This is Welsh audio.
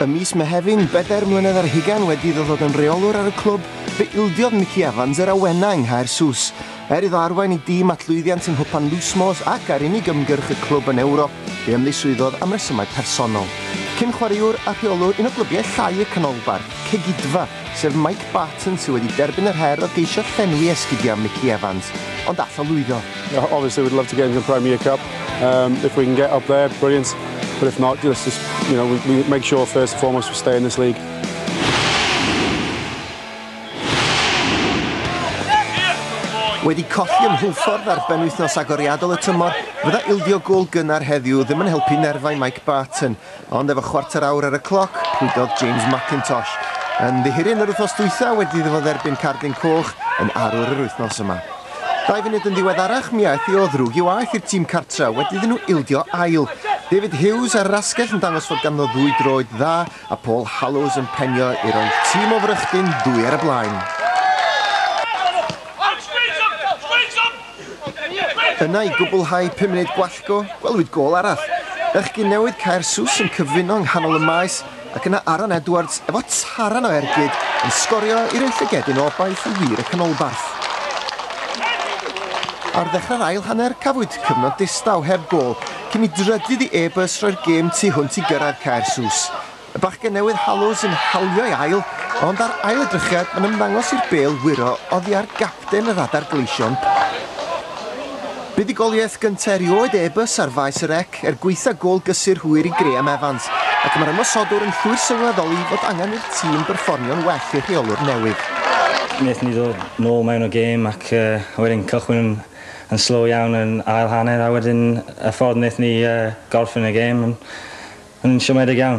Ym mis Mehefin, bedair mlynedd ar hugain wedi iddo ddod yn reolwr ar y clwb, fe ildiodd Mickey Evans yr awenau yng Nghaersws. Er iddo arwain ei dîm at lwyddiant yng Nghwpan Lusmores ac ar unig ymgyrch y clwb yn Ewrop, fe ymddiswyddodd am resymau personol. Cyn-chwaraewr a rheolwr un o glybiau llai y Canolbarth, Cegidfa, sef Mike Barton sydd wedi derbyn yr her o geisio llenwi esgidiau am Mickey Evans, ond all o lwyddo. Obviously we'd love to get into the Premier Cup, um, if we can get up there, brilliant, but if not, let's just, you know, we make sure first and foremost we stay in this league. Wedi colli ym Mhulffordd ar benwythnos agoriadol y tymor, fydda ildio gol gynnar heddiw ddim yn helpu nerfau Mike Barton, Ond efo chwarter awr ar y cloc, rhwydodd James Mackintosh, yn ddihiryn yr wythnos dwytha wedi iddo fo dderbyn cardyn coch yn arwr yr wythnos yma. Dau funud yn ddiweddarach, mi aeth i o ddrwg i waeth i'r tîm cartra wedi iddyn nhw ildio ail. David Hughes ar yr asgell yn dangos fod ganddo ddwy droed dda a Paul Hallows yn penio i roi tîm o Frychdyn ddwy ar y blaen. Yna i gwblhau pum munud gwallgo, gwelwyd gôl arall. Bechgyn newydd Caer Sws yn cyfuno yng nghanol y maes ac yna Aaron Edwards efo taran o ergyd yn sgorio i roi llygedyn o obaith i wir y canolbarth. Ar ddechrau'r ail hanner cafwyd cyfnod distaw heb gôl cyn i drydydd i E-bus roi'r gêm tu hwnt i gyrraedd Caer Sws. Y bachgen newydd halw sy'n hawlio'i ail, ond ar ail edrychiad mae'n ymddangos i'r bêl wyro oddi ar gapten yr adar gleision. Buddugoliaeth gyntaf erioed e bus ar faes y rec er gwaetha gôl gysur hwyr i Graham Evans, ac mae'r ymosodwr yn llwyr sylweddoli fod angen i'r tîm berfformio'n well i'r rheolwr newydd. Wnaethon ni ddod nôl mewn o gêm ac uh, wedyn cychwyn yn, yn slow iawn yn ail hanner a wedyn y ffordd wnaethon ni uh, gorffen y gêm yn, yn siomedig iawn.